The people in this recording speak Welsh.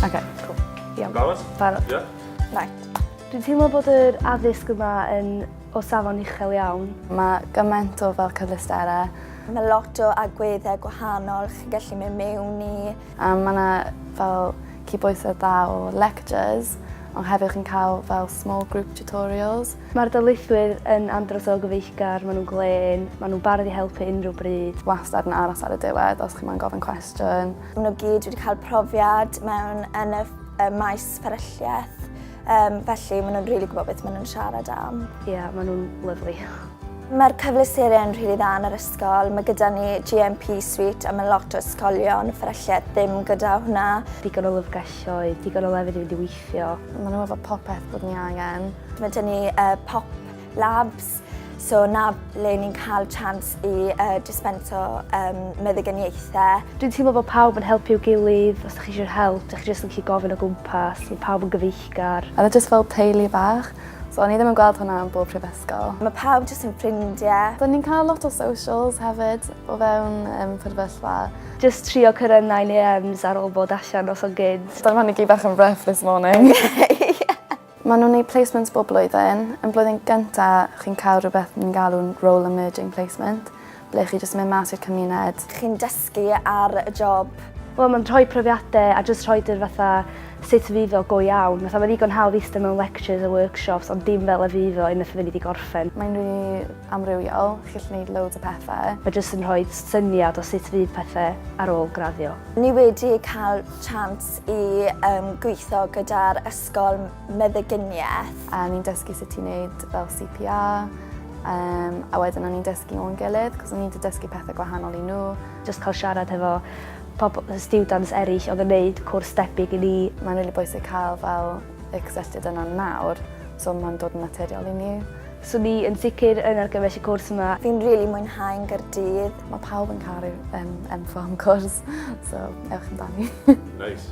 Okay, cool. Iawn. Barod? Barod. Ie. Yeah. Right. Dwi'n teimlo bod yr addysg yma yn o safon uchel iawn. Mae gymaint o fel cyfleusterau. Mae lot o agweddau gwahanol chi'n gallu mynd mewn i. Yym mae 'na fel cydbwysedd dda o lectures ond hefyd chi'n cael fel small group tutorials. Mae'r darlithwyr yn andros o gyfeillgar, maen nhw'n glên, maen nhw'n barod i helpu unrhyw bryd. Wastad yn aros ar y diwedd os chi moyn gofyn cwestiwn. Maen nhw gyd wedi cael profiad mewn yn y maes fferylliaeth. Um, felly, maen nhw'n rili really gwybod beth maen nhw'n siarad am. Ie, yeah, maen nhw'n lyflu. Mae'r cyfleusterau yn rili really dda yn yr ysgol. Mae gyda ni GMP Suite a mae lot o ysgolion fferylliau ddim gyda hwnna. Digon o lyfrgelloedd, digon o lefydd i fynd i weithio. Maen nhw'n efo popeth bod ni angen. Mae gen ni uh, pop Labs, so 'na le ni'n cael chance i uh, dispenso um, meddyginiaethau. Dwi'n teimlo bod pawb yn helpu'w gilydd, os ydych chi eisiau help, ydych chi jyst yn gallu gofyn o gwmpas, mae pawb yn gyfeillgar. A jyst fel teulu bach, so o'n i ddim yn gweld hwnna yn bob prifysgol. Mae pawb jyst yn ffrindiau. Do'n ni'n cael lot o socials hefyd o fewn um, prifysgol. Just trio cyrraedd 9am ar ôl bod allan os o'n gyd. Do'n i gyd bach yn rough this morning. Maen nhw'n neud placements bob blwyddyn. Yn blwyddyn gynta, chi'n cael rhywbeth ni'n galw'n role emerging placement, ble chi jyst yn mynd mas i'r cymuned. Chi'n dysgu ar y job. Wel mae'n rhoi profiadau a jyst rhoid yr fatha sut fydd iddo go iawn. Fatha mae'n ddigon hawdd ista mewn lectures a workshops ond dim fel y fydd o unwaith fyddi di gorffen. Mae'n rili amrywiol, chi'n gallu neud loads o pethau. Mae jyst yn rhoi syniad o sut fydd pethau ar ôl graddio. Ni wedi cael chance i gweithio gyda'r Ysgol Meddyginiaeth. A o'n i'n dysgu sut i wneud fel CPR, um, a wedyn o'n i'n dysgu nhw'n gilydd, cos o'n i'n dysgu pethau gwahanol i nhw. Just cael siarad hefo pobl, students eraill oedd yn gwneud cwrs debyg i ni. Mae'n really bwysig cael fel y cysylltiad yna nawr, so mae'n dod yn naturiol i ni. So ni yn sicr yn argymell y cwrs yma. Fi'n rili really mwynhau yn Gyrdydd. Mae pawb yn caru um, enfo am cwrs, so ewch amdani. nice.